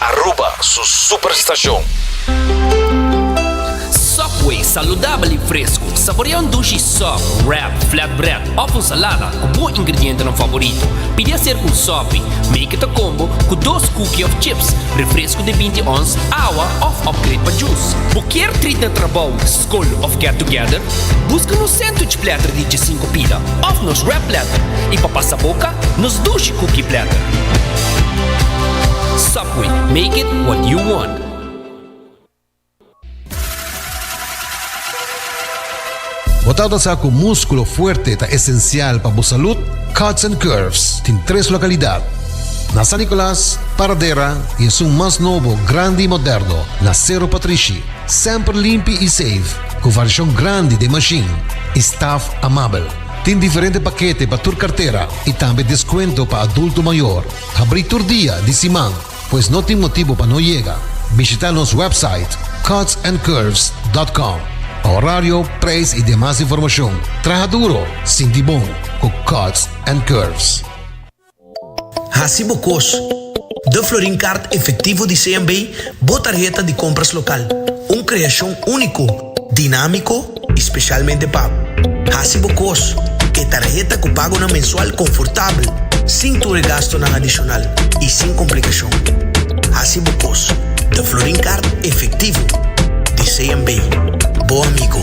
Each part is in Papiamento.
Aruba su super station. Subway, saludabel i fresku. Saborea un dushi sub, wrap, flatbread òf un salada ku bo ingredientenan favorito. Pidi a ser ku un sopi, make it a combo, ku dos kuki òf chips, refresku di binti ons, awa òf upgrade pa jus. Bo kier treat na trabou? Col of Get Together? Busca nos sandwich platter di djesinku pida of nos wrap platter y pa pasa boca nos Dushi Cookie Platter. Subway, make it what you want. Bo ta nosa cu musculo fuerte ta esencial pa bo salud? Cuts and Curves tin tres localidad, na San Nicolas, Paradera y esun mas nobo, grandi y moderno, na Cerro Patrishi. Semper limpi i seif, ku varshon grandi den mashin i staf amabel. Tin diferente pakete pa tur kartera i tambe deskuento pa adulto mayor. Habrí tur dia di siman, pues no tin motibu pa no yega. Bishitá nos wèpsait cutsandcurves.com pa orario, preis i demas informashon. Traha duro, sinti bon ku Cuts and Curves. Hasi bo kos. De Florin Kaart Efektivo di CMB bo tarheta di kompras lokal, un kreashon úniko, dinámiko i spesialmente pa Hasi bo kos, e tarheta ku pagonan mensual konfortabel, sin tur e gastunan adishonal i sin komplikashon. Hasi bo kos. De Florin Kaart Efektivo di CMB, bo amigo.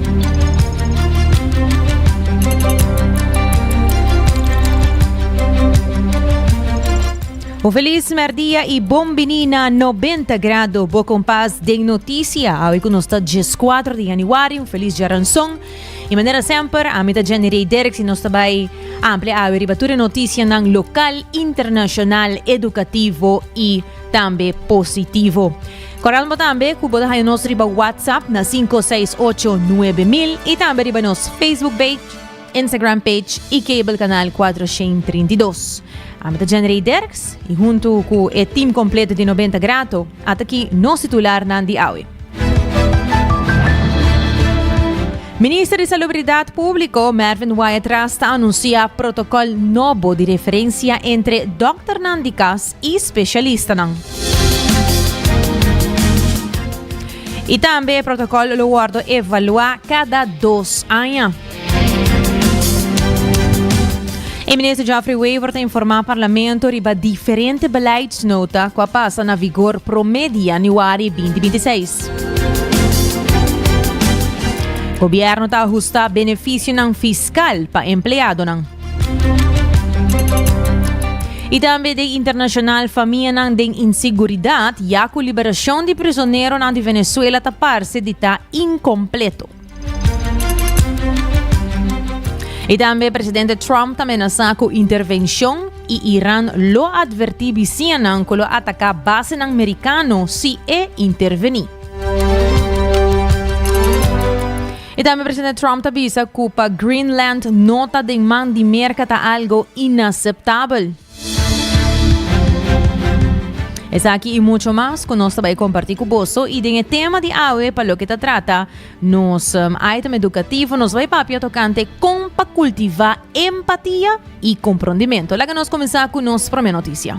Un feliz merdia y bon bini na 90 grado. Bo compás den noticia. Awe ku nos ta 4 de januari. Un feliz jaranson. Y manera semper, a mi ta Jenny Rey Derks y nos ta bay ample awe riba tur noticia nan local, internacional, educativo y tambe positivo. Coralbo tambe cu bo ta haya nos riba WhatsApp na cinco seis ocho nuebe mil y tambe riba nos Facebook page, Instagram page y cable canal cuatrocientos treinta y dos. Ami ta Jenrey Derks y hunto cu e team completo di Noventa Grato at aki nos titularnan di awe. Minister di Salubridad Publico, Mervin Wyatt Ras ta anuncia protocol nobo di referencia entre dokternan di cas i spesialistanan. I tambe e protokòl lo wòrdu evaluá kada dos aña. E minister Geoffrey Wever ta informá parlamento riba diferente beleidsnota ku a pasa na vigor promé di yanüari 2026. Gobièrnu ta ahustá benefisionan fiskal pa empleadonan. I tambe den internashonal famianan den inseguridat ya ku liberashon di prisoneronan di Venezuela ta parse di ta inkompleto. I tambe presidente Trump ta menasá ku intervenshon i Iran lo atvertí bisiñanan ku lo ataká basenan merikano si e intervení. I tambe presidente Trump ta bisa ku pa Greenland no ta den man di Merka ta algo inaseptabel. Esaki i mucho mas ku nos ta bai kompartí ku boso i den e tema di awe pa loke ta trata nos um, item edukativo nos bai papia tokante kon pa kultivá empatia i komprondimento. Laga nos kuminsá ku nos promé notisia.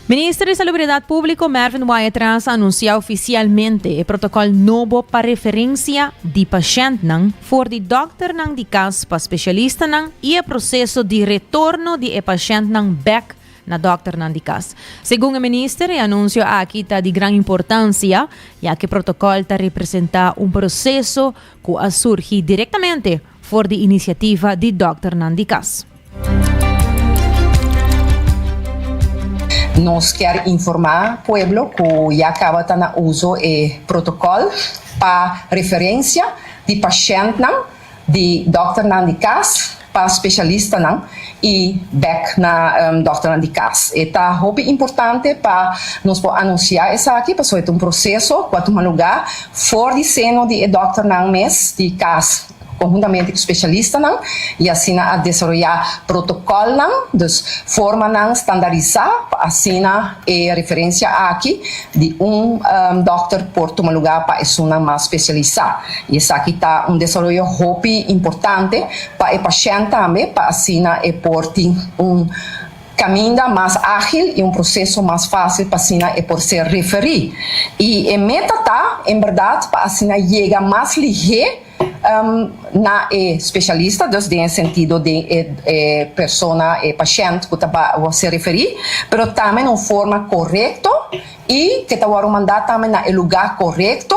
Minister di Salubridat Públiko, Mervin Wyatt-Ras, a anunsiá ofisialmente e protokòl nobo pa referensia di pashèntnan for di dòkternan di kas pa spesialistanan i e proseso di retorno di e pashèntnan bèk na dòkternan di kas. Segun e minister, e anunsio aki ta di gran importansia, ya ku e protokòl ta representá un proseso ku a surgi direktamente For di inisiativa di dòkternan di kas. Nos kier informa pueblo cu ya caba ta na uzo e protocol pa referencia di pacientnan di dokternan di cas pa specialistanan, y bek na dokternan di cas. E ta hopi importante pa nos por anuncia esaki pasobra e ta un proceso cu a tuma lugar for di seno di e dokternan mes di cas conhuntamente cu specialistanan y asina a desaroya protocolnan, dus formanan standardisa pa asina e referencia aki di un dokter por tuma lugar pa esunnan mas specialisa y esaki ta un desaroyo hopi importante. Pa e pashènt tambe, pa asina e por tin un kaminda mas ágil i un proseso mas fásil pa asina e por ser referí. I e meta ta, en bèrdat, pa asina yega mas lihé na e spesialista, dus den e sentido den e persona, e pashènt ku ta ba ser referí, pero tambe na un forma korekto, I ke ta wòrdu mandá tambe na e lugá korekto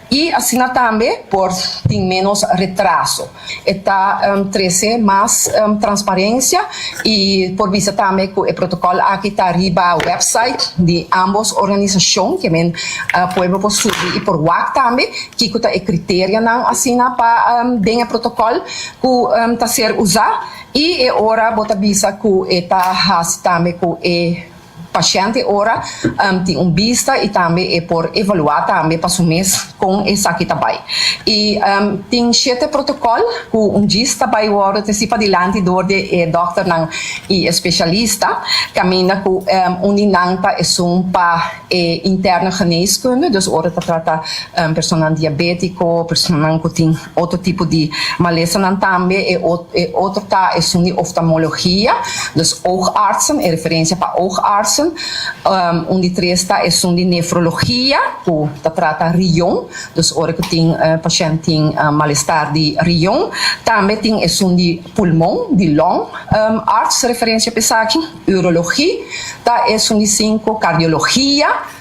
i asina tambe por tin ménos retraso. E ta trese mas transparensia i por bisa tambe ku e protokòl aki ta riba wèpsait di ámbos organisashon ke men pueblo por subi i por wak tambe kiko ta e kriterionan asina pa den e protokòl ku ta ser usá i e ora bo ta bisa ku e ta hasi tambe ku e Pashente ora tin un bista y tambe e por evalua tambe pa su mes con esaki ta bay. Y tin shete protocol cu un djis ta bay wordo te si padilanti door di e dokternan y e specialista, caminda cu un di nan ta esun pa e interne geneeskunde, dus ora ta trata personanan diabetico, personanan cu tin Otro tipo di malesanan tambe e otro ta esun di oftalmologia, dus oogartsen, e referencia pa oogartsen. Un di tres ta esun di nefrologia cu ta trata rion, dus ora cu tin pashent tin malestar di rion. Tambe tin esun di pulmon, di lung arts referencia pa esaki. Urologie ta esun di cinco, cardiologia.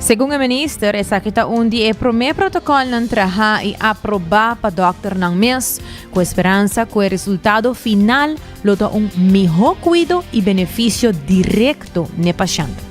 Segun e minister, esaki ta un di e promé protokòlnan trahá i aprobá pa dòkternan mes, ku e speransa ku e resultado final lo ta un mihó kuido i benefisio direkto n'e pashènt.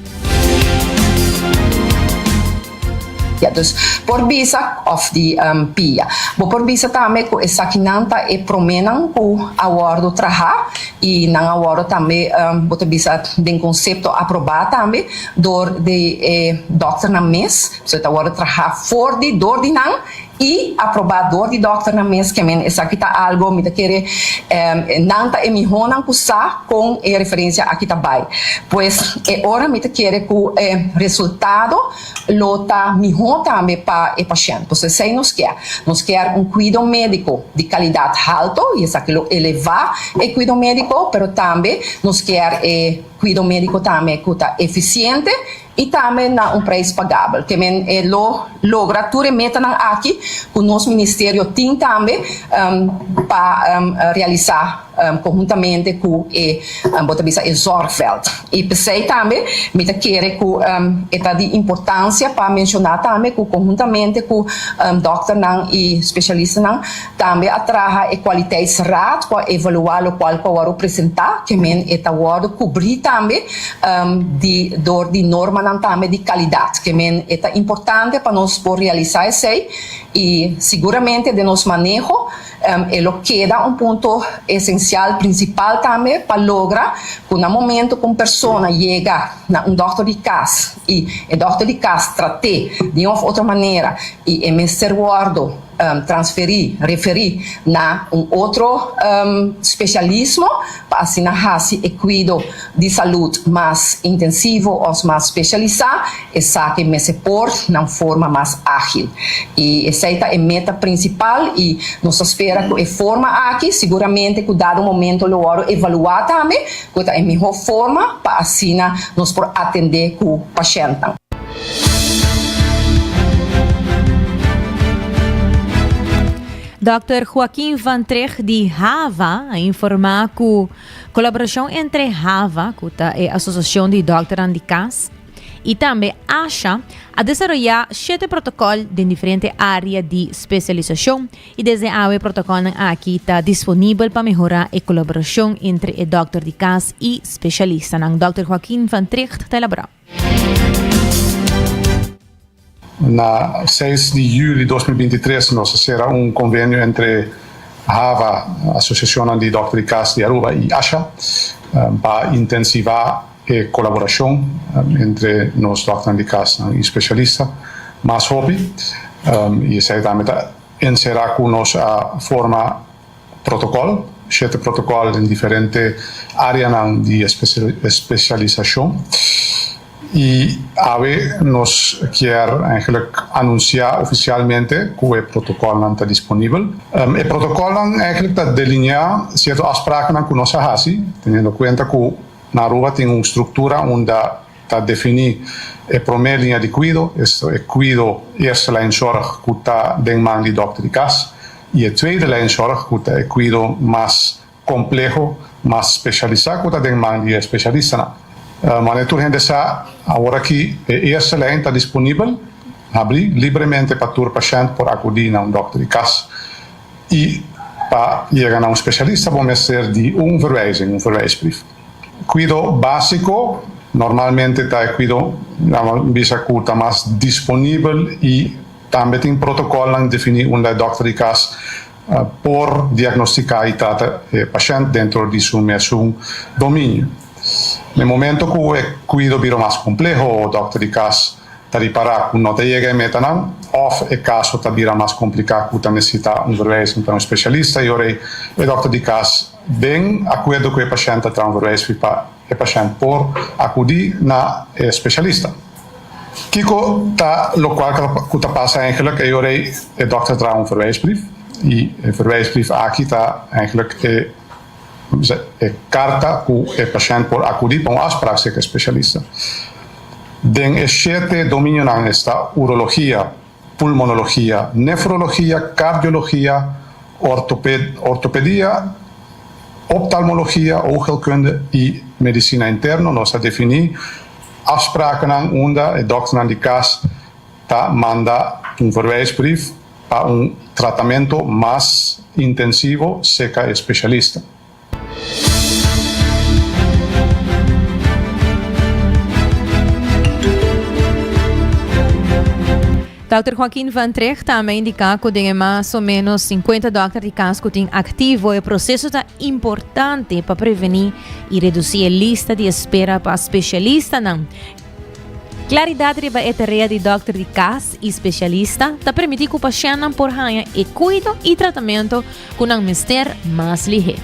Dus, por bisa òf di pia. Bo por bisa tambe ku esakinan ta e proménan ku a wòrdu trahá i nan a wòrdu tambe, bo ta bisa den konsepto aprobá tambe. dor di e dòkternan mes, so e ta wòrdu trahá for di dor di nan i aprobá dor di dòkternan mes, ke men esaki ta algu mi ta kere nan ta e mihónan ku sa kon e referensia aki ta bai. Pues e ora mi ta kere ku e resultado lo ta mihó tambe pa e pashènt. Pues esei nos kier. Nos kier un kuido médiko di kalidat halto i esaki lo elevá e kuido médiko, pero tambe nos kier e. Cuido medico tambe cu ta eficiente y tambe na un prijs pagabel. Te men e lo logra tur e metanan aki cu nos Ministerio tin tambe pa realisa conhuntamente cu e bo ta bisa e Zorgveld. Y pesey tambe mi ta kere cu e ta di importancia pa menciona tambe cu conhuntamente cu dokternan y specialistanan, Tambe a traha e Kwaliteitsraad ku a evaluá lokual ku a wòrdu presentá kemen e ta wòrdu kubrí tambe di dor di normanan tambe di kalidat kemen e ta importante pa nos por realisá esei i siguramente den nos maneho e lo keda un punto esensial prinsipal tambe pa logra ku na momentu ku un persona yega na un dòkter di kas i e dòkter di kas trat'é di un òf otro manera i e mester wòrdu transferí, referí, na un otro spesialismo pa asina hasi e kuido di salud mas intensivo òf mas spesialisá, esaki mester por na un forma mas ágil. I esei ta e meta prinsipal i nos ta spera ku e forma aki siguramente ku dado momento lo wòrdu evaluá tambe ku e ta e mihó forma pa asina nos por atendé ku pashèntnan. Dòkter Joaquin van Tricht di HAVA a informá ku kolaborashon entre HAVA, ku ta e asosiashon di dòkternan di kas, i tambe ASHA a desaroyá shete protokòl den diferente área di spesialisashon i desde awe e protokòlnan aki ta disponibel pa mehorá e kolaborashon entre e dòkter di kas i spesialistanan. Dòkter Joaquin van Tricht ta elaborá. Na seis di juli dos mil binti tres nos a sera un konvenio entre hava, Asosiashonnan di Dòkter di Kas di Aruba, i ASHA pa intensivá e kolaborashon entre nos dòkternan di kas i speshalista mas hopi i esei tambe ta enserá ku nos a forma Protokòl, Shete protokòl den diferente áreanan di espesialisashon. I awe nos kier eigenlijk anunsiá ofisialmente ku e protokòlnan ta disponibel. E protokòlnan eigenlijk ta delineá sierto afsprakennan ku nos a hasi, teniendo kuenta ku na Aruba tin un struktura unda, Ta definí e promé liña di kuido, esto e kuido, eerste lijn zorg, ku ta den man di dòkter di kas, i e tweede lijn zorg, ku ta e kuido mas kompleho, mas spesialisá, ku ta den man di e spesialistanan. Manera tur hende sa, aworakí e eerste lijn ta disponibel, habrí, libremente pa tur pashènt por akudí na un dòkter di kas. I pa yega na un spesialista bo mester di un verwijzing, un verwijsbrief. Kuido básiko normalmente ta e kuido nan bo bisa ku ta mas disponibel i tambe tin protokòlnan definí unda e dòkter di kas por diagnostiká i trata e pashènt dentro di su mesun dominio. Na e momento ku e kuido bira mas kompleho o dòkter di kas ta ripará ku no ta yega e metanan òf e kaso ta bira mas kompliká ku ta nesesitá un verwijzing pa un spesialista i ora ei e dòkter di kas Den akuerdo ku e pashènt ta tran verwees riba e pashènt por akudí na e speshalista. Kiko ta lokual ku ta pasa eigenlik e ora e dòkter dra un verweesbrief? I e verweesbrief aki ta eigenlik e bisa e karta ku e pashènt por akudí pa un afsprak serka e speshalista. Den e shete dominionan esta urologia. pulmonologia, nefrologia, kardiologia, ortopedia, optalmologia, oogheelkunde, i medisina interno. Nos a definí afsprakennan unda e dòkternan di kas ta manda un verwijsbrief pa un tratamentu mas intensivo serka e spesialista. Dòkter Joaquin van Treg ta ama indiká ku den e mas o menos 50 dòkter di kas ku tin aktivo e proseso ta importante pa prevení i redusí e lista di espera pa spesialistanan. Klaridat riba e tarea di dòkter di kas i spesialista ta permití ku pashèntnan por haña e kuido i tratamentu ku nan mester mas lihé.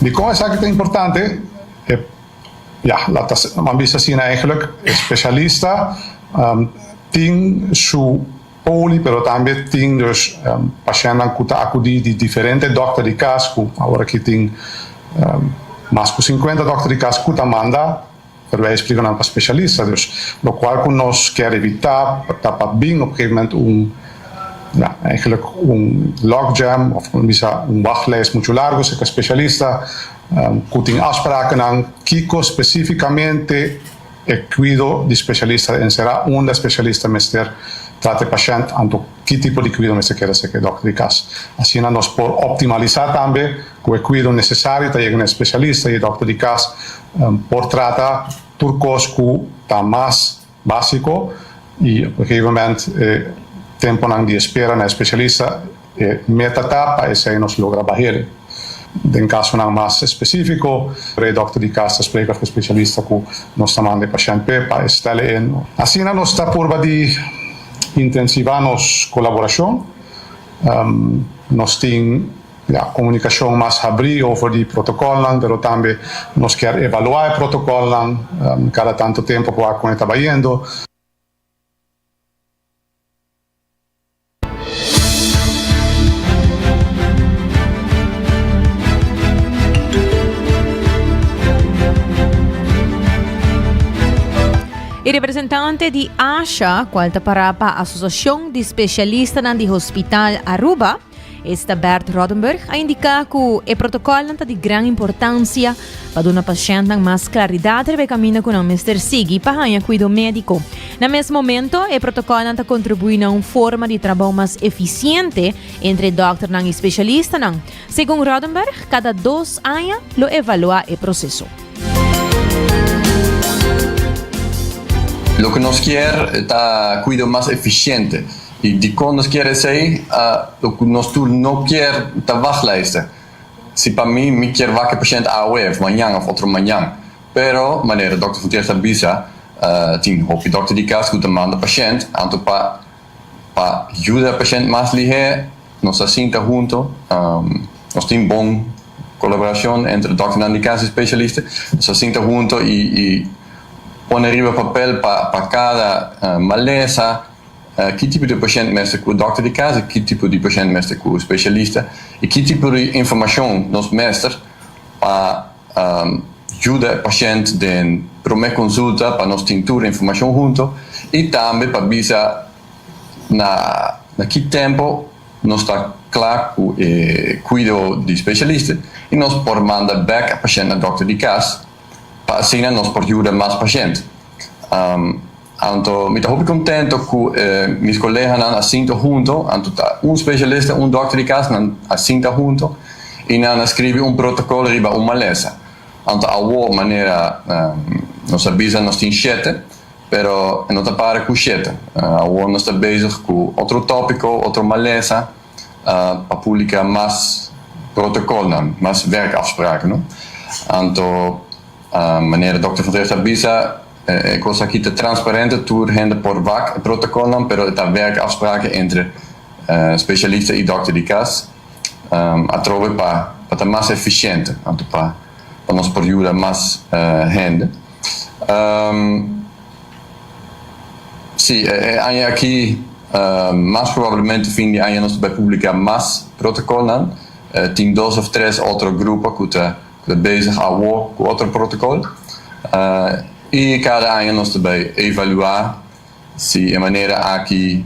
Dikon esaki ta importante? E Ya, laat asina, mambis asina. Eigenlik, e spesialista tin su. Poli, pero tambe tin dus pashennan ku ta akudí di diferente dòkter di kas ku awor aki tin mas ku sinkuenta dòkter di kas ku ta manda, pero e espliká nan pa speshalista. Dus lokual ku nos kier evitá ta pa bin op un gegeven moment un, ja, eigenlijk un logjam òf por bisa un wachlijst muchu largu serka e speshalista ku tin afsprakennan kiko spesífikamente, E cuido di specialista ta encerá unda e specialista mester trata e pashent anto ki tipo di cuido mester keda cerca e dòkter di cas. Asina nos por optimalisá tambe cu e cuido necesario ta yega na e specialista y e dòkter di cas por trata tur cos cu ta mas básico y op e gegeven moment e temponan di espera na e specialista E meta ta pa esei nos logra bahel. Den kasonan mas espesífiko, e dòkter di kas ta spreka ku e spesialista ku nos ta manda e pashènt p'e pa e stèl'e en. Asina nos ta purba di intensivá nos kolaborashon. Nos tin ya komunikashon mas habrí over di protokòlnan, pero tambe nos kier evaluá e protokòlnan kada tantu tempu pa wak kon e ta bayendo. E representante di ASHA, cual ta para pa Asociacion di Specialistanan di Hospital Aruba, Ester Bert Rodenburg, a indica cu e protocolnan ta di gran importancia pa duna pashèntnan mas klaridat riba e kaminda ku nan mester sigui pa haña kuido médiko. Na mes momento, e protokòlnan ta kontribuí na un forma di trabou mas efisiente entre dòkternan i spesialistanan. Segun Rodenberg, kada dos aña lo evaluá e proseso. Loke nos kier ta kuido mas efisiente. I dikon nos kier esei? Loke nos tur no kier ta wacht luister. Si pa mi, mi kier wak e pashènt awe of mañan of otro mañan. Pero, manera Dòkter Gutierrez ta bisa, tin hopi dòkter di kas ku ta manda pashènt anto pa pa yuda e pashènt mas lihé. Nos a sinta hunto, nos tin bon kolaborashon entre dòkternan di kas i speshalista. Nos a sinta hunto i i pone riba papel pa pa kada malesa, Ki tipo di pashent mester ku dòkter di kas i ki tipo di pashent mester ku spesialista, i ki tipo di informashon nos mester pa yuda e pashent den promé konsulta pa nos tin tur informashon huntu i tambe pa bisa na na ki tempu nos ta kla ku e kuido di spesialista i nos por manda bèk e pashent na dòkter di kas pa asina nos por yuda mas pashent. Anto mi ta hopi contento cu e mis coleganan a sinto hunto, anto ta un specialista y un dokter di cas, nan a sinta hunto y nan a scribi un protocolo riba un malesa. Anto awo manera nos a bisa nos tin shete, pero e no ta para cu shete, awo nos ta bezig cu otro topico, otro malesa pa publica mas protocolnan, mas werkafspraken. Anto manera dokter Van Tricht a bisa. E kos aki ta transparente, tur hende por wak e protokolnan, pero e ta wèk afspraken entre spesialista i dòkter di kas atrobe pa ta mas efisiente, anto pa nos por yuda mas hende. Sí, e aña aki, mas probablemente fin di aña nos ta bai publiká mas protokolnan. Tin dos òf tres otro grupo ku ta. Ta bezig awor cu otro protocol y cada aña nos ta bay evalua si e manera aki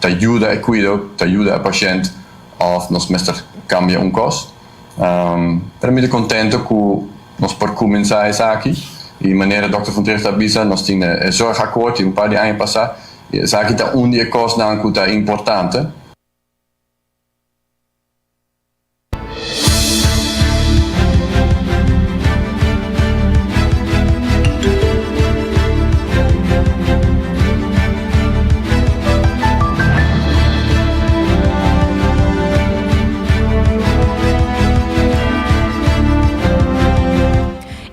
ta yuda e cuido, ta yuda e pashent of nos mester cambia un cos. Pero mi ta contento cu nos por cuminsa esaki y manera Dokter Fonteros ta bisa nos tin e zorgakkoord di un par di aña pasa y esaki ta un di e cosnan cu ta importante.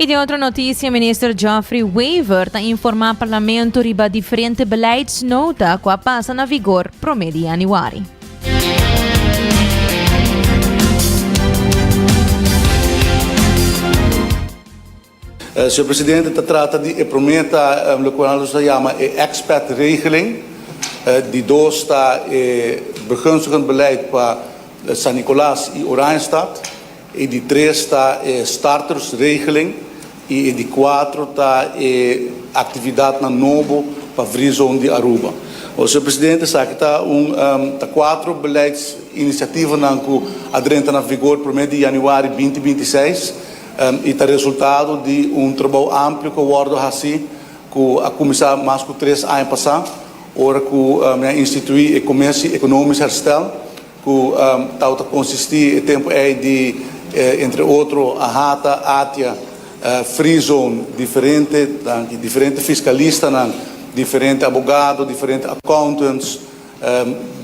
Y den otro noticia, minister Geoffrey Wever ta informa parlamento riba diferente beleidsnota cu a pasa na vigor prome di januari. Señor Presidente, ta trata di e promé ta lokual nos ta yama e expat regeling, di dos ta e begunstigend beleid pa San Nicolas y Oranjestad. E di tres ta e startersregeling y e di cuatro ta e actividadnan nobo pa Vrizon di Aruba. Well, Señor Presidente, esaki ta un, ta cuatro beleidsiniciativanan cu a drenta na vigor prome di januari binti binti seis y ta resultado di un trabao amplio cu a wordo haci cu a cuminsa mas cu tres aña pasa ora cu mi a institui e Comisie Economisch Herstel Ku tau ta konsistí e tempu ei di entre otro Ahata, Atia, Freezone, diferente, danki, diferente fiskalistanan, diferente abogado, diferente accountants,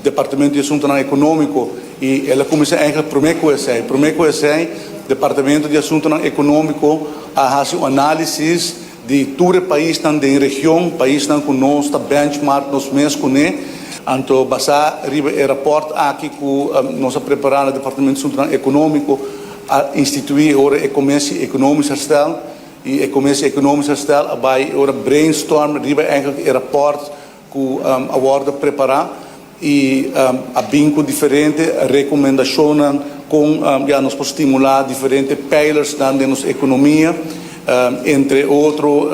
Departamento di Asuntunan Ekonómiko, i el a kuminsá eigentlik promé ku esei. Promé ku esei Departamento di Asuntunan Ekonómiko a hasi un análisis Di tur e paisnan den region, paisnan cu nos ta benchmark nos mes cune. Anto basá riba e raport aki cu nos a prepará na Departamento Asuntonan Económico, a instituí e ora e Commissie Economisch Herstel. I e Commissie Economisch Herstel a bai e ora brainstorm riba eigenlijk e raport. cu a wordo prepara y a bin cu diferente recomendacionnan con ya nos por stimula diferente pijlersnan den nos economia. Entre otro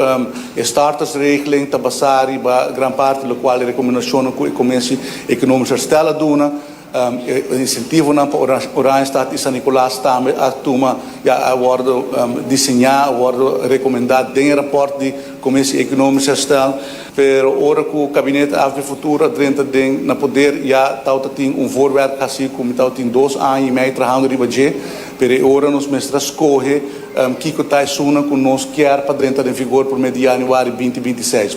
e startersregeling ta basa riba gran parte locual e recomendacionnan cu e Comisie Economisch Herstel a duna. E insentivonan pa Oranjestad i San Nicolas tambe a tuma, ya a wòrdu diseñá, a wòrdu rekomendá den e rapòrt di Komisie Ekonomisch Herstel. Pero ora ku Kabinet Af di Futuro a drenta den na poder, ya tau ta tin un voorwerp hasi ku mi tau tin dos aña i mei trahando riba dje, pero e ora nos mester a skohe kiko ta esunnan ku nos kier pa drenta den vigor promé di yanüari binti binti seis.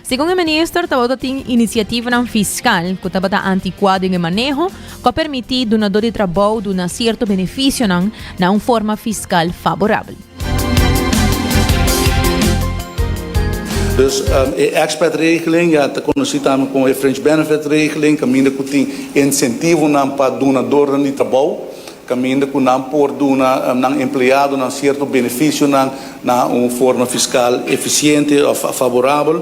Segun e minister tabata tin inisiativanan fiskal ku tabata antikuá den e maneho ku a permití dunadó di trabou duna sierto benefisionan na un forma fiskal faborabel. Dus e expat regeling, ya ta konosí tambe komo e fringe benefit regeling, kaminda ku tin insentivonan pa dunadónan di trabou. caminda cu nan por duna nan empleadonan cierto beneficionan na un forma fiscal eficiente of favorabel,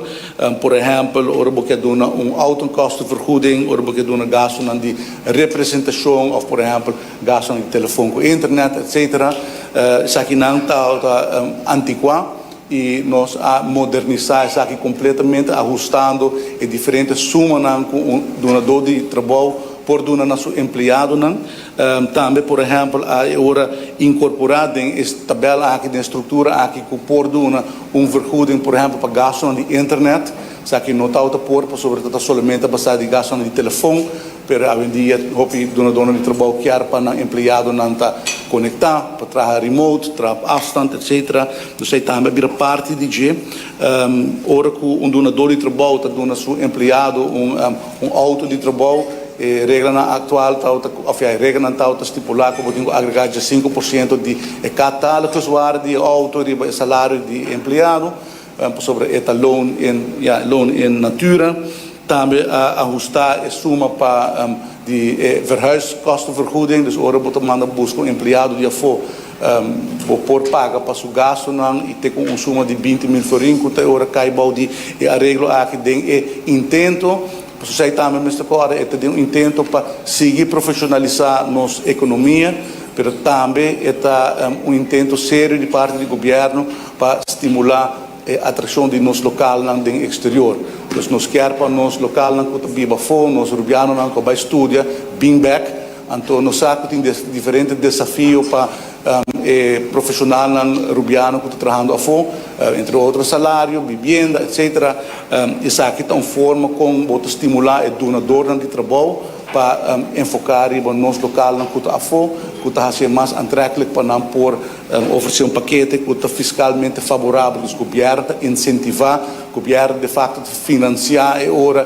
por ehempel ora bo kier duna un autokostenvergoeding, ora bo kier duna gastonan di representacion of por ehempel gastonan di telefoon cu internet, etc. Esakinan ta antiqua y nos a modernisa esaki completamente ahustando e diferente sumanan cu un dunador di trabao por duna na su empleadonan. Tambe por ehempel a e ora inkorporá den e tabèl aki, den e struktura aki ku por duna un vergoeding por ehempel pa gastunan di internet, esaki no ta outa por pasobra ta ta solamente basá di gastunan di telefon, pero awendia hopi dunadónan di trabou kier pa nan empleadonan ta konektá, pa traha remote, traha op afstand, etsetera. Dus ei tambe a bira parti di dje. Ora ku un dunadó di trabou ta duna su empleado un. Un auto di trabou, e reglanan aktual tau ta, òf e reglanan tau ta stipulá ku bo tin ku agregá djasinku por siento di e kataloguswaarde di e auto riba e salario di e empleado, pasobra e ta loon in, ya, loon in natura. Tambe a ahustá e suma pa di e verhuiskostenvergoeding, dus ora bo ta manda buska un empleado di afó, Bo por paga pa su gastunan y te cu un suma di binti mil florin cu ta e ora cay bao di e areglo aki den e intento. Pasobra esey tambe mester corda, e ta den un intento pa sigui profesionalisa nos economia, pero tambe e ta un intento serio di parti di gobierno pa stimula e atraccion di nos localnan den exterior. Entonces nos kier pa nos localnan cu ta biba afo, nos Rubianonan cu a bay studia, bin bek. Anto nos sa ku tin diferente desafio pa e profeshonalnan rubiano ku ta trahando afó, entre otro salario, bibienda, etsetera. Esaki ta un forma kon bo ta stimulá e dunadornan di trabou pa enfoká riba nos lokalnan ku ta afó, ku ta hasié mas antrèklik pa nan por ofresé un pakete ku ta fiskalmente faborabel. Dus gobièrnu ta insentivá, gobièrnu defakto ta finansiá e ora.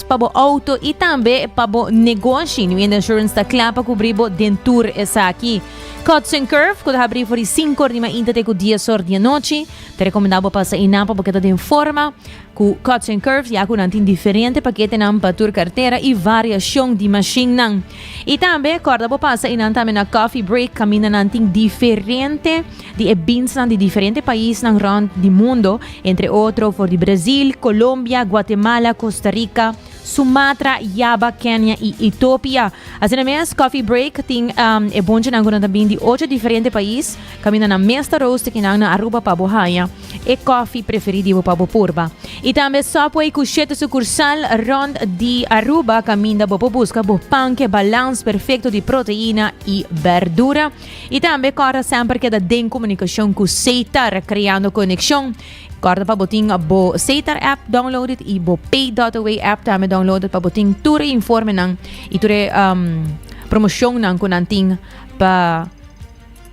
pa bo auto y tambe pa bo negoshi. New End Insurance ta cla pa cubri bo den tur esaki. Cuts and Curve, cu ta habri for di cinco or di mainta te cu dies or di anochi. Ta recomenda bo pasa eynan pa bo keda den forma. Cu Cuts and Curve ya cu nan tin diferente paketenan pa tur cartera y variacion di machinnan. Y tambe corda bo pasa eynan tambe na Coffee Break, caminda nan tin diferente. di e binsnan di diferente paisnan rònt di mundo, entre otro for di Brazil, Colombia, Guatemala, Costa Rica, Sumatra, Java, Kenya y Ethiopia. Asina mes, Coffee Break tin um, e bonchenan cu nan ta bin di ocho diferente pais, caminda nan mes ta roast ki nan na Aruba pa bo haña e coffee preferi di bo pa bo purba. Y tambe Subway cu shete sucursal rònt di Aruba, caminda bo por busca bo panke balans perfecto di proteina y berdura. I tambe kòrda semper keda den komunikashon ku Seitar kreando konekshon. Kòrda pa bo tin bo Seitar app downloaded i bo Pay Dotaway app tambe downloaded pa bo tin tur e informenan i tur e um, promoshonnan ku nan tin pa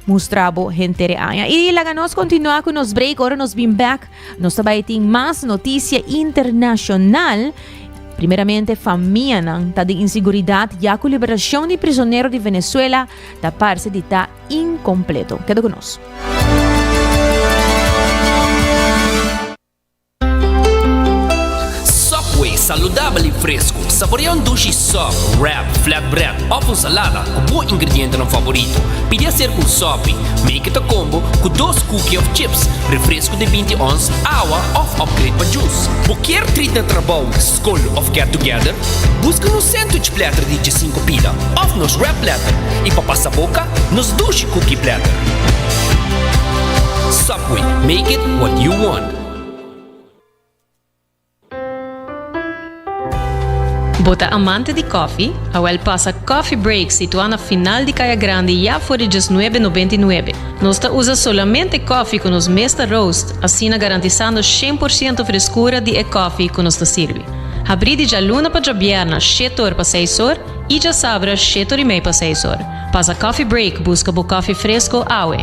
mustra bo henter e aña. I laga nos kontinua ku nos break. Ora nos bin bek, nos ta bai tin mas notisia internashonal. Primeramente, famianan ta den inseguridat ya ku liberashon di prizonero di Venezuela Ta parse di ta incompleto. Keda cu nos. Subway, saludabel i fresco. Saborea un dushi sub, wrap, flatbread of un salada cu bo ingredientenan favorito. Pidi aser cu un subby, make it a combo, cu dos cookie of chips, refresco di binti ons, awa of upgrade pa juice. Bo kier treat na trabou? Skol of Get Together? Buska nos sandwich platter di djesinku pida of nos wrap platter i pa pasa boka nos dushi cookie platter. Subway, make it what you want. Bo ta amante di kòfi? Awèl pasa Coffee Break situá na final di Kaya Grandi ya for di diesnuebe nobenta i nuebe. Nos ta usa solamente kòfi ku nos mes ta roast. Asina garantisando shen por ciento freskura di e kòfi ku nos ta sirbi. Habrí di djaluna pa djabièrna shete or pa seis or i djasabra shete or i mei pa seis or. Pasa kòfi break buska bo kòfi fresko awe.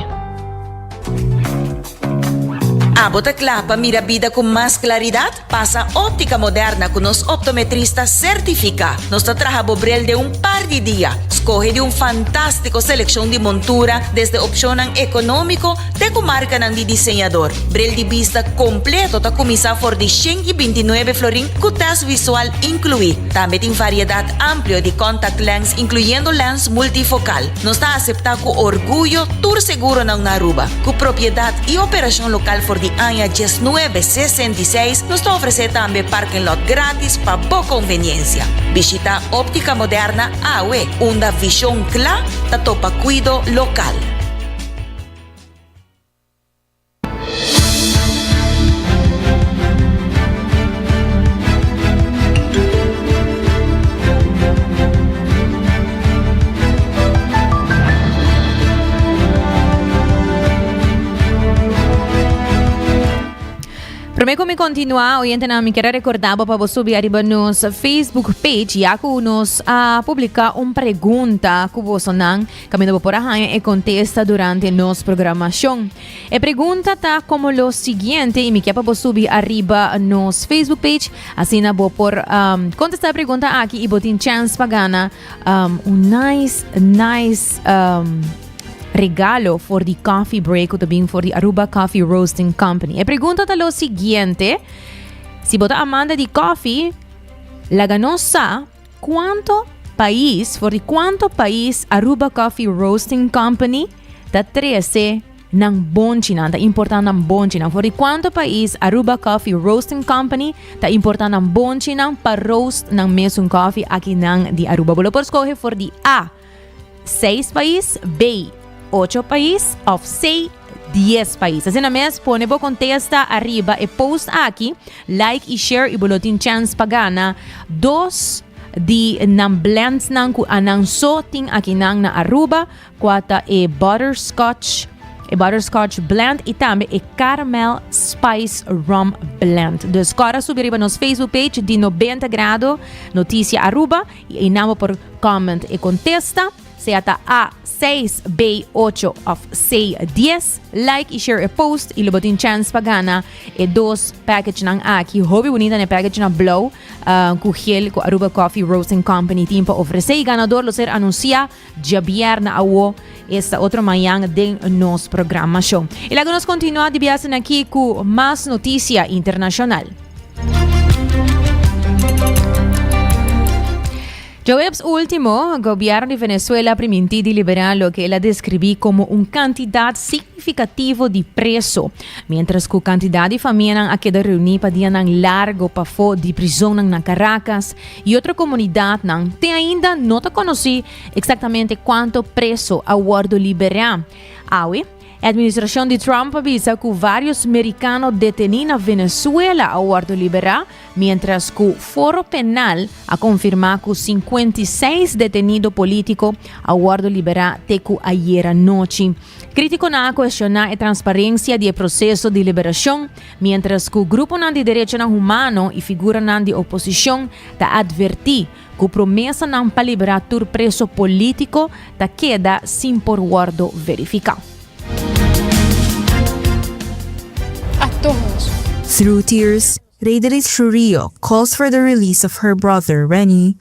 Abo ta kla pa mira bida ku mas klaridat? Pasa Optica Moderna cu nos optometrista certifica. Nos ta traha bo bril den un par di dia. Scoge di un fantastico seleccion di montura desde opcionnan economico te cu marcanan di diseñador. Bril di bista completo ta cuminsa for di shen y binti nuebe florin cu test visual inclui. Tambe tin variedad amplio di contact lens incluyendo lens multifocal. Nos ta aseptá ku orguyo tur seguronan na Aruba. Ku propiedat i operashon lokal for di aña dies nuebe sesenta i seis, nos ta ofresé tambe parking lot gratis pa bo konveniensia. Bishita Optica Moderna awe, unda vishon kla ta topa kuido lokal. Prome cu mi continua, oyentenan, mi quiere recordabo pa bo subi arriba nos Facebook page, ya cu nos a publica un pregunta cu bosonan Kaminda bo por a haña e kontesta durante nos programashon. E pregunta ta komo lo siguiente i mi kier pa bo subi ariba nos Facebook page, asina bo por um, kontestá e pregunta aki i bo tin chance pa gana um, un nice, nice um, regalo for di coffee break ku ta bin for di Aruba Coffee Roasting Company. E pregunta ta lo siguiente, si bo ta amante di coffee, laga nos sa Cuanto pais for di cuanto pais Aruba Coffee Roasting Company ta trece nan bonchi nan ta importa nan bonchi nan for di cuanto pais Aruba Coffee Roasting Company ta importa nan bonchi nan pa roast nan mesun coffee aki nan di Aruba bo lo por scoge for di A. Seis pais, bay, ocho pais of say dies pais. Asina mes pone bo contesta arriba e post aki, like y share y bo lo tin chance pa gana dos di nan blends nan cu anan so tin akinan na Aruba, cua ta e butterscotch e butterscotch blend y tambe e caramel spice rum blend. Dus cora subi riba nos Facebook page di Nobenta Grado Noticia Aruba. Y ahí nan bo por comment e contesta, sea ta A seis, B ocho of C dies. Like y share e post y lo bo tin chance pa gana e dos package nan aki. Hopi bunita ne package nan blauw cu geel cu Aruba Coffee Roasting Company tin pa ofrece. Y ganador lo ser anuncia. Diabierna awo esta otro mañan den nos programashon. I laga nos kontinuá di biasen aki ku mas notisia internashonal. Djoeps último, gobièrnu di Venezuela a primintí di liberá loke el a deskribí komo un kantidat signifikativo di preso, miéntras ku kantidat di famianan a keda reuní pa dianan largu pafó di prizonnan na Karakas, y otro comunidadnan te ainda no ta conoci exactamente cuanto preso a wordo libera. Awe, e administracion di Trump a bisa cu varios mericano deteni na Venezuela a wordo libera, mientras cu Foro Penal a confirma cu cincuenta y seis detenido politico a wordo libera te cu ayer anochi. Criticonan a cuestiona e transparencia di e proceso di liberacion, mientras cu gruponan di derechonan humano y figuranan di oposicion ta adverti cu promesanan pa libera tur preso politico ta keda sin por wordo verifica. Through tears, Rederis Trujillo calls for the release of her brother, Renny,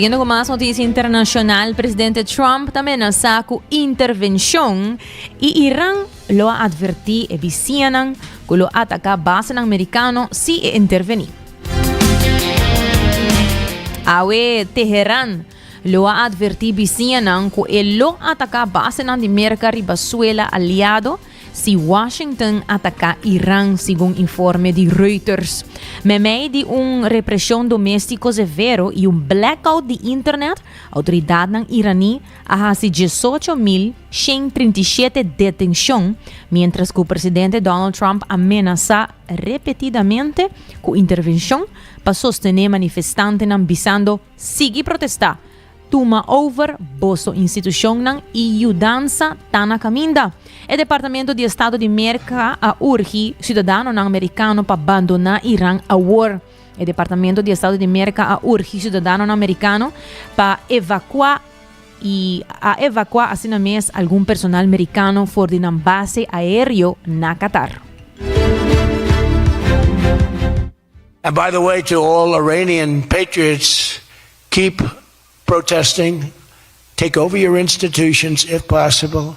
Siguiendo cu mas noticia internacional, presidente Trump ta amenaza cu intervencion y Iran lo a adverti e bisianan cu lo ataca basenan mericano si e interveni. Awe Teheran lo a advertí bisiñanan ku e lo ataká basenan di Merka riba suela aliado si Washington ataká Iran, segun informe di Reuters. Memei di un represhon doméstiko severo i un blackout di internet, outoridatnan iraní a hasi diesocho mil shen trinta i shete detenshon, miéntras ku presidente Donald Trump a menasá repetidamente cu intervencion pa sostene manifestantenan bisando sigui protesta, tuma over boso institucionnan y yudansa ta na caminda. E Departamento di Estado di Merca a urgi ciudadanonan Mericano pa bandona Iran awor. E Departamento di Estado di Merca a urgi ciudadanonan Mericano pa evacua. y a evacua asina mes algun personal mericano for di nan base aereo na Qatar. And by the way to all Iranian patriots keep protesting take over your institutions if possible.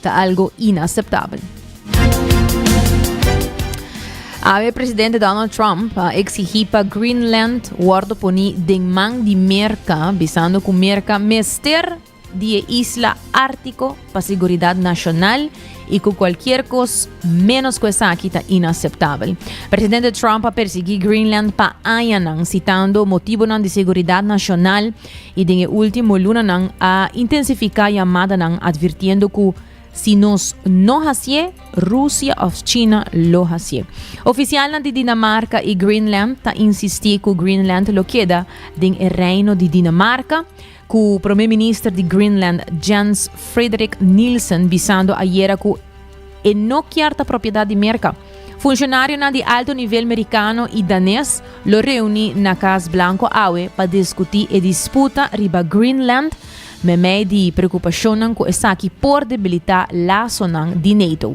ta algo inaseptabel. Awe presidente Donald Trump a exigí pa Greenland wordo poní den man di Merca, bisando cu Merca mester di e isla Artico pa seguridad nacional y cu cualkier cos menos cu esaki ta inaseptabel. Presidente Trump a persiguí Greenland pa añanan, citando motibonan di seguridad nacional, i den e último lunanan a intensifiká yamadanan advirtiendo ku si nos no hasié, Rusia òf China lo hasié. Ofisialnan di Dinamarka i Greenland ta insistí ku Greenland lo keda den e Reino di Dinamarka, ku Prome Minister di Greenland Jens Frederik Nielsen bisando ayera ku E no kier ta propiedat di Merka. Funshonarionan di alto nivel Merikano i Danes lo reuni na Kas Blanko awe pa diskutí e disputa riba Greenland meimei di preokupashonnan ku esaki por debilitá lasonan di NATO.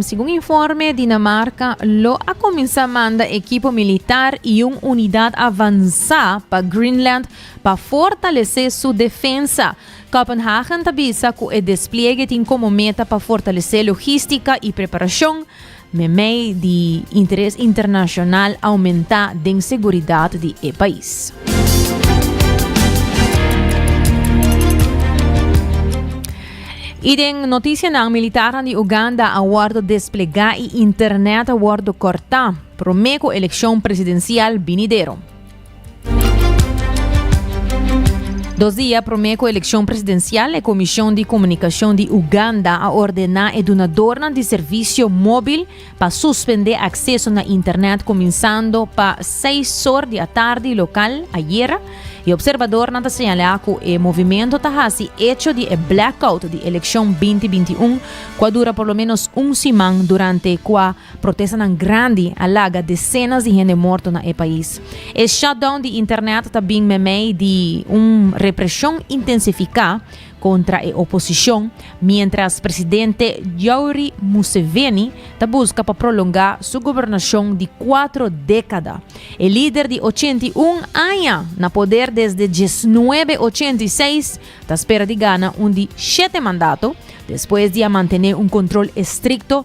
Segun informe, Dinamarca lo a cuminsa manda equipo militar y un unidad avansa pa Greenland pa fortalece su defensa. Copenhagen ta bisa cu e despliegue tin como meta pa fortalece logistica y preparacion, memey di interes internacional aumenta den seguridad di e pais. Y den noticianan militarnan di Uganda a wordo desplega y internet a wordo corta prome cu eleccion presidencial binidero. Dos dia prome cu eleccion presidencial e Comision di Comunicacion di Uganda a ordena e dunadornan di servicio mobil pa suspendé akseso na internet kuminsando pa seis sor di atardi lokal ayera i opserbadornan ta señalá ku e movimento ta hasi echo di e blackout di elekshon binti binti un ku a dura por lo ménos un siman durante kua protestanan grandi a laga desenas di hende morto na e pais. E shutdown di internet ta bin meimei di un represhon intensifiká, kontra e oposishon miéntras presidente Yoweri Museveni ta buska pa prolongá su gobernashon di kuatro dékada. E lider di ochenta i un aña na poder desde diesnuebe ochenta i seis ta spera di gana un di shete mandato despues di a mantené un kontrol estrikto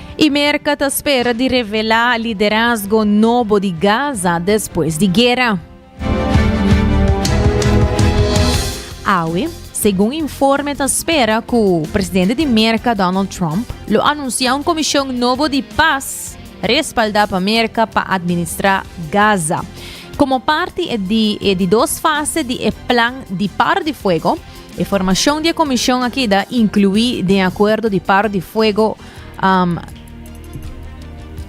i Merka ta spera di revelá liderazgo nobo di Gaza despues di guera. Awe, segun informe ta spera ku presidente di Merka Donald Trump lo anunsiá un komishon nobo di pas respaldá pa Merka pa administrá Gaza. Komo parti e di e di dos fase di e plan di paro di fuego, e formashon di e komishon a keda inkluí den akuerdo di paro di fuego um,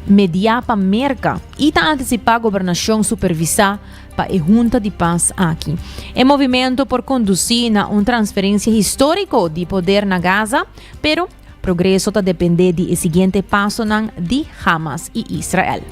mediá pa Merka y ta anticipá gobernacion supervisá pa e hunta di pas aki. E movimento por conducí na un transferencia histórico di poder na Gaza, pero progreso ta dependé di e siguiente pasonan di Hamas y Israel.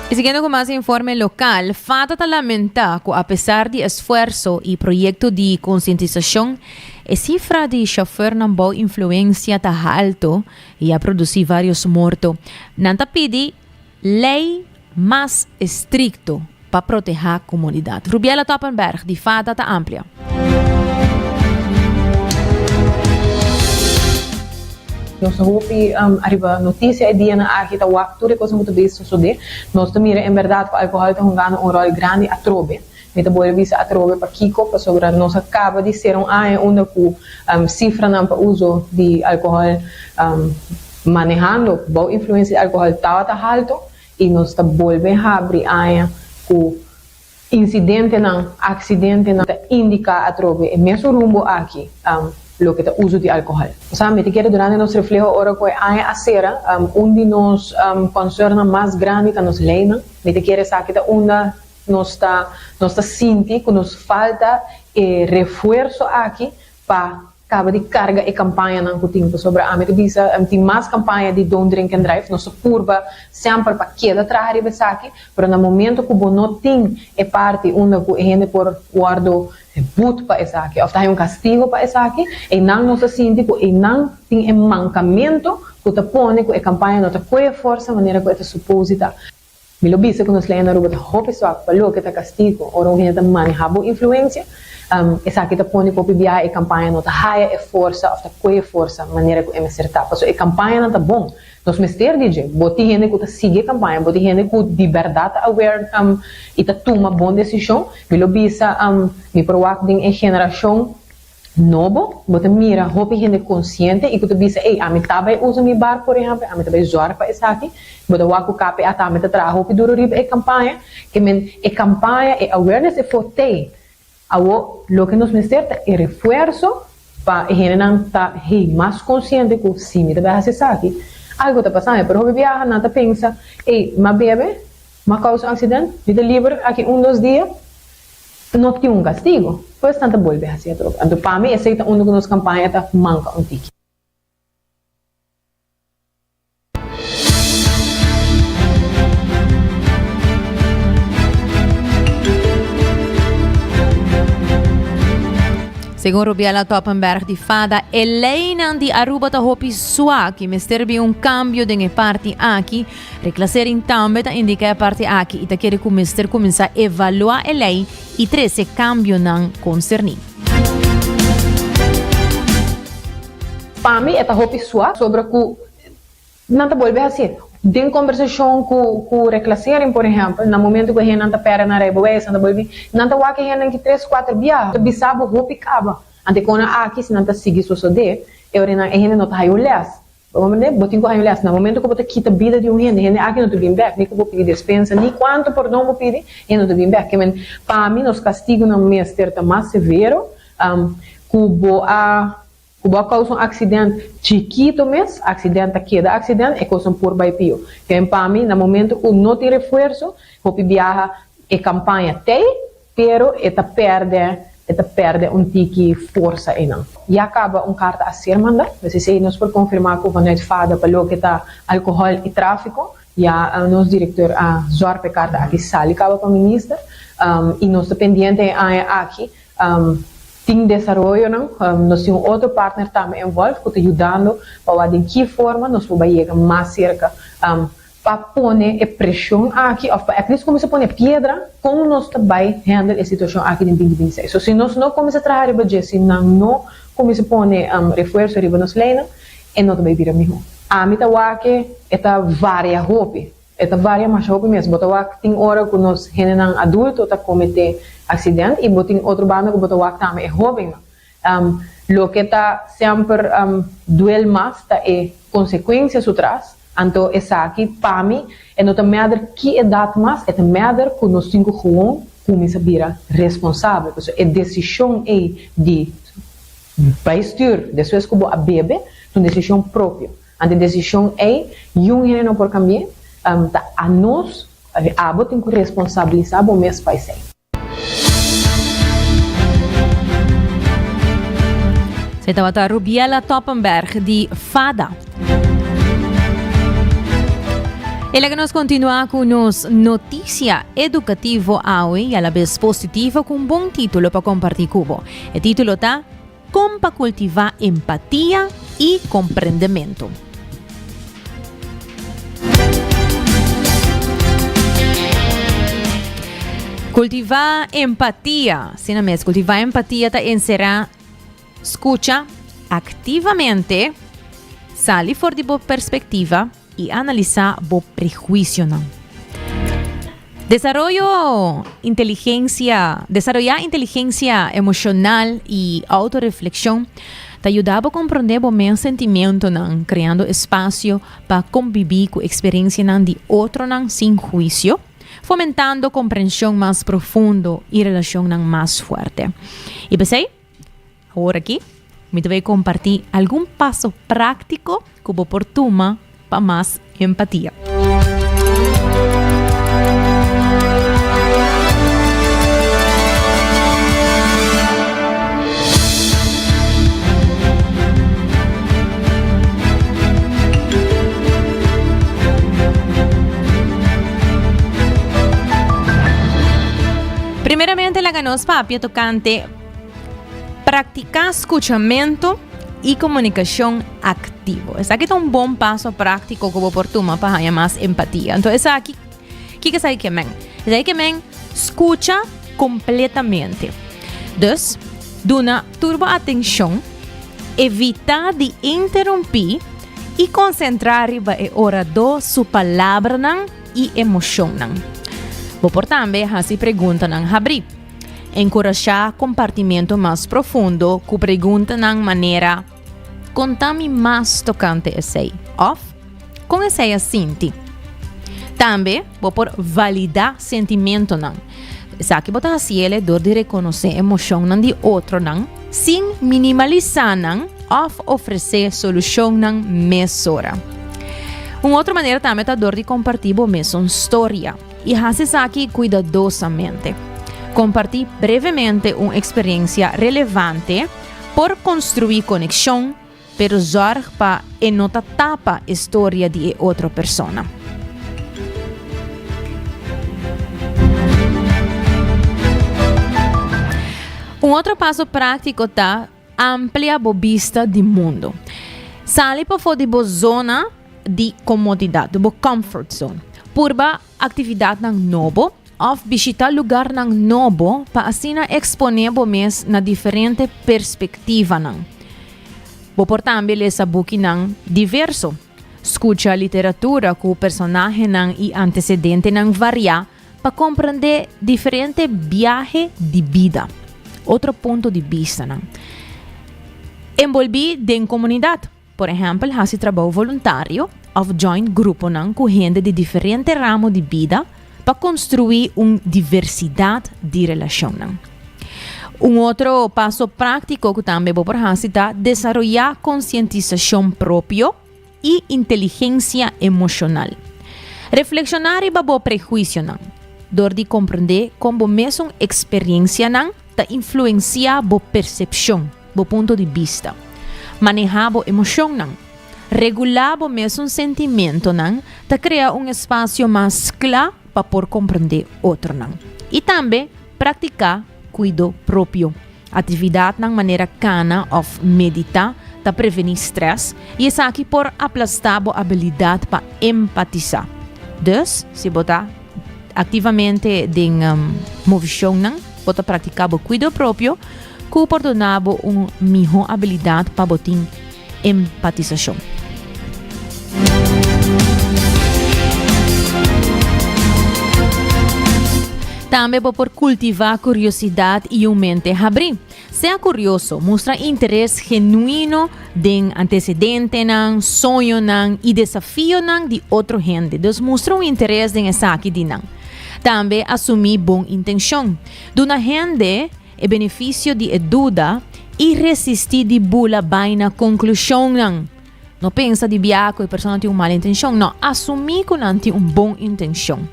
Y siguiendo con más informe local, FATA ta lamenta cu a pesar di esfuerzo y proyecto di concientización, e cifra di chauffeurnan bou influencia ta halto y a produci varios morto. Nan ta pidi Lei mas estrikto pa protehá komunidat. Rubiela Toppenberg di Fata ta amplia. Nos ta hopi ariba notisia e dianan aki ta wak tur e kos ku ta bai sosodé. Nos ta mira en bèrdat ku alkohòl ta hungando un ròl grandi atrobe. Mi ta bole bisa atrobe pakiko pasobra nos a kaba di sera un aña unda ku sifranan pa uso di alkohòl. Manehando bou influensia di alkohòl tabata haltu i nos ta bolbe habri aña ku insidentenan, aksidentenan ta indiká atrobe e mesun rumbo aki, loke ta uso di alkohòl. Nos a mete keda durante nos refleho ora ku e aña a sera. Un di nos konsèrnnan mas grandi ta nos leinan. Mete keda esaki ta unda nos ta sinti ku nos falta e refuerso aki pa. Caba di carga e campañanan cu tin cu sobra. Ami ta bisa ami tin mas campaña di Don't Drink and Drive. Nos ta purba semper pa keda traha riba esaki, pero na momento cu bo no tin e parti unda cu e hende por wordo boet pa esaki of ta haya un castigo pa esaki, eynan nos ta sinti cu eynan tin e mancamento cu ta pone cu e campaña no ta coye forsa manera cu e ta suposi ta. Mi lo bisa ku nos lei na Aruba ta hopi suak pa loke ta kastigo. Ora un hende ta maneha bo influensia, esaki ta pone ku hopi biaha e kampaña no ta haya e forsa òf ta kohe forsa manera ku e mester ta. Pasobra e kampañanan ta bon. Nos mester di dje. Bo tin hende ku ta sigui e kampaña, bo tin hende ku di bèrdat ta aware i ta tuma bon desishon. Mi lo bisa mi por wak den e generashon. No bo, bo ta mira hopi hende konsiente i ku ta bisa, ey, ami ta bai usa mi barku, por ehèmpel, ami ta bai zòrg pa esaki. Bo ta wak ku KPA tambe ta traha hopi duru riba e kampaña. Ke men, e kampaña, e awareness e for tei. Awor, loke nos mester ta e refuerso pa e hendenan ta, hey, mas konsiente ku si mi ta bai hasi esaki, algu ta pasa mi. Pero hopi biaha nan ta pensa, ey, m'a bebe, m'a kousa aksident, mi ta liber aki un dos dia. No tin un castigo. Pues nan ta bolbe haci atrobe. Anto pa mi esey ta unda cu nos campaña ta manca un tiki. Segun Rubiela Toppenberg di FADA, e leynan di Aruba ta hopi suak y mester bin un cambio den e parti aki, Reclassering tambe ta indica e parti aki y ta kere cu mester cuminsa evalua e ley y trece cambionan concerni. Pa mi e ta hopi suaf sobra cu nan ta bolbe haci. Den conversacion cu cu reclassering por ehempel na momento cu e hendenan ta perde nan rijbewijs nan ta bolbe nan ta wak e hende aki tres cuater bia ta bisa bo hopi caba. Anteconan aki si nan ta sigui sosode e orinan e hende no ta haya un les. Mane bo tin ku año lesa, na momento ku bo ta kita bida di un hende, hende aki no ta bin bek, ni ku bo pidi despensa, ni kuantu pordon bo pidi, e no ta bin bek. Kiemen pa mi nos kastigunan mester ta mas severo, ku bo a ku bo a kousa un aksident chikitu mes, aksident ta keda aksident, e kosnan por bai pio. Kiemen pa mi na momento ku no tin refuerso, hopi biaha e kampaña tei, Pero e ta pèrdè, e ta pèrdè un tiki forsa einan. Ya kaba un karta a ser manda, mes esei nos por konfirmá ku vanuit fada pa loke ta alkohòl i tráfiko, ya nos direktor a zòrg pa e karta aki sali kaba pa minister, i nos ta pendiente e aña aki tin desaroyonan, nos tin un otro partner tambe envòlv ku ta yudando pa wak den ki forma nos por bai yega mas serka. pa pone e preshon aki of pa aplis cuminsa pone e piedra con nos ta bay handle e situacion aki den binti binti seis so si nos no cuminsa traha riba dje si nan no cuminsa pone refuerso riba nos leynan e no ta bay bira miho. Ami ta wak e ta varia hopi e ta varia masha hopi mes bo ta wak tin ora cu nos hendenan adulto ta comete accident y bo tin otro banda cu bo ta wak tambe e hobennan Loke ta semper duel mas ta e consecuencia su tras, anto esaki pa mi e no ta meder ki edad mas, e ta meder cu nos tin cu gewoon cuminsa bira responsabel. Pasobra e decision ey di bay stuur despues cu bo a bebe ta un decision propio, anto e decision ey yung hende no por cambi'e, ta anos, abo tin cu responsabiliza bo mes pa esey. Se tabata Rubiela Toppenberg di Fada. E laga nos continua cu nos noticia educativo awe y alabes positivo cu un bon titulo pa comparti cubo. E titulo ta. Kon pa kultivá empatia i komprendementu. Kultivá empatia. Asina mes, kultivá empatia ta enserá skucha aktivamente, sali for di bo perspektiva, I analisá bo prehuisionan. Desaroyo inteligensia, Desaroyá inteligensia emoshonal i outoreflekshon ta yuda bo komprondé bo mes sentimentonan, kreando espasio pa kombibí ku eksperensianan di otronan sin huisio, fomentando komprenshon mas profundo i relashonnan mas fuerte. I p'esei. Awor aki, mi ta bai kompartí algun paso práktiko ku bo por tuma pa mas empatia. Primeramente laga nos papia tokante. Praktiká skuchamentu i komunikashon aktivo. Esaki ta un bon paso práktiko ku bo por tuma pa haña mas empatia. Anto esaki, kiko esaki ke men? Esaki ke men skucha kompletamente. Dus, duna tur bo atenshon, evitá di interumpí i konsentrá riba e oradó su palabranan i emoshonnan. Bo por tambe hasi preguntanan habrí. Enkurashá kompartimentu mas profundo ku preguntanan manera, Kon ta mi mas tokante esei? òf Kon esei a sinti? Tambe bo por validá sentimentunan. Esaki bo ta hasi el e dor di rekonosé emoshonnan di otronan sin minimalisá nan òf ofresé solushonnan mesora. Un otro manera tambe ta dor di kompartí bo mesun storia. I hasi esaki kuidadosamente. Kompartí brevemente un eksperensia relevante por konstruí konekshon, pero zòrg pa e no ta tapa e storia di e otro persona. Un otro paso práktiko ta Amplia bo bista di mundu. Sali pafó di bo zona di komodidat, bo comfort zone. Purba aktividatnan nobo òf bishitá lugarnan nobo pa asina eksponé bo mes na diferente perspektivanan. Bo por tambe lesa bukinan diverso. Skucha literatura ku personahenan i antesedentenan variá pa komprendé diferente biahe di bida, otro punto di bistanan. Enbolbí den komunidat, por ehèmpel hasi trabou voluntario òf join gruponan ku hende di diferente ramo di bida, Pa konstruí un diversidat di relashonnan. Un otro paso práktiko ku tambe bo por hasi ta desaroyá konsientisashon propio i inteligensia emoshonal. Reflekshoná riba bo prehuisionan dor di komprendé kon bo mesun eksperiencianan Ta influenciá bo percepcion, bo punto di bista. Manehá bo emocionnan. Regulá bo mesun sentimentonan ta crea un espacio mas cla pa por comprendé otronan. I tambe practicá cuido propio. Actividadnan manera cana of meditá ta prevení stress i esaki por aplastá bo habilidad pa empatisá. Dus, si bo ta. Activamente den movicionnan bo ta practica bo cuido propio cu por dona bo un miho habilidad pa bo tin empatisacion. Tambe bo por cultiva curiosidad y un mente habri. Sea curioso, mustra interes genuino den antecedentenan, soñonan y desafionan di otro hende. Dus mustra un interes den esaki di nan. Tambe asumi bon intencion. Duna hende e beneficio di e duda y resisti di bula bai na conclusionnan. No pensa di bia ku e persona tin un mal intenshon. No, asumí ku nan tin un bon intenshon.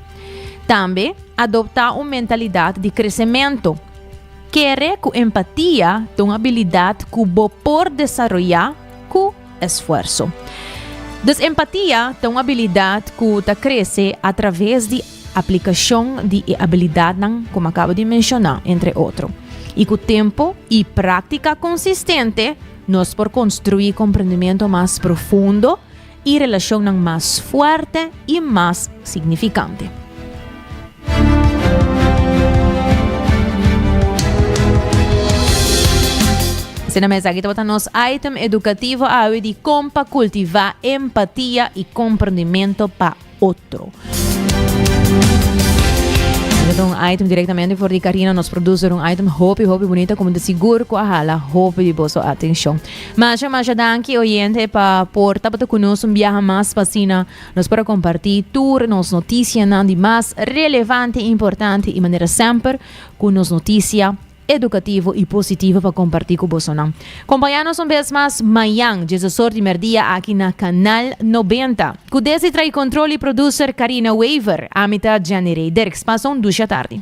Tambe adoptá un mentalidat di kresementu. Kere ku empatia ta un abilidat ku bo por desaroyá ku esfuerso. Dus empatia ta un abilidat ku ta krese atraves di aplikashon di e abilidatnan ku mi a kaba di menshoná, entre otro. I ku tempu i práktika konsistente, Nos por konstruí komprendimentu mas profundo i relashonnan mas fuerte i mas signifikante. Asina mes, aki tabata nos item edukativo awe di kon pa kultivá empatia i komprendimentu pa. otro. Nos ta un item directamente for di Karina, nos producer un item hopi hopi bonita como de sigur ku a hala hopi di boso atención. Masha masha danki oyente pa por tapata ku nos un biaha mas pasina nos para comparti tur nos noticia nan di mas relevante, importante i manera semper ku nos noticia edukativo i positivo pa kompartí ku bosonan. Kompañá nos un bes mas mañan djesa sort di merdia aki na Kanal Nobenta. Ku desi tra'i kontrol i produser Karina Wever, ami ta Janny Rey Dirks. Pasa un dusha tardi.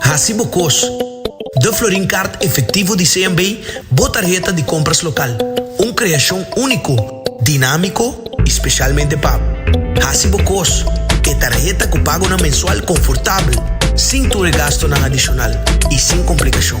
Hasi bo kos. De Florin Kaart Efektivo di CMB bo tarheta di kompras lokal, un kreashon úniko, dinámiko i spesialmente pa Hasi bo kos, e tarheta ku pagonan mensual konfortabel, sin tur e gastonan adishonal i sin komplikashon.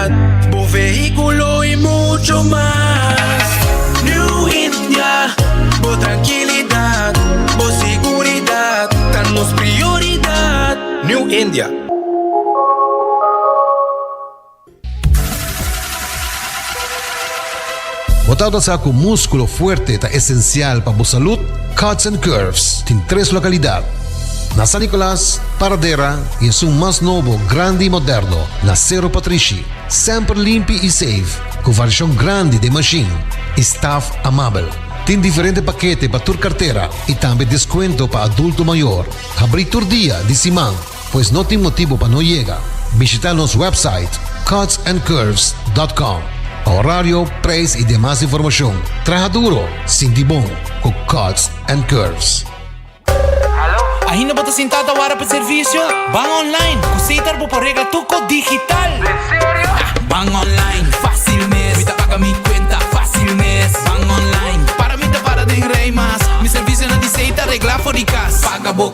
Navidad, bo vehiculo y mucho mas New India, bo tranquilidad, bo seguridad Ta nos prioridad New India. Bo ta tabata sa ku múskulo fuerte ta esensial pa bo salud? Cuts and Curves tin tres lokalidat, na San Nicolas, Paradera i esun mas nobo, grandi i moderno, na Cerro Patrishi. Semper limpi i seif, ku variashon grandi den mashin i staf amabel. Tin diferente pakete pa tur kartera i tambe deskuento pa adulto mayor. Habrí tur dia di siman. Pues no tin motibo pa no yega. Bishita nos website cutsandcurves.com pa horario, prijs y demas informacion. Traha duro, sinti bon cu Cuts and Curves. Ainda bo ta sintá ta wara pa servisio? Ban online! Ku Sitar bo por regla tur kos digital. Ta ban online fásil mes. Mi ta paga mi kuenta fásil mes. Ban online para mi ta para den rei mas. Mi servisionan di Sitar reglá for di kas. Paga bo.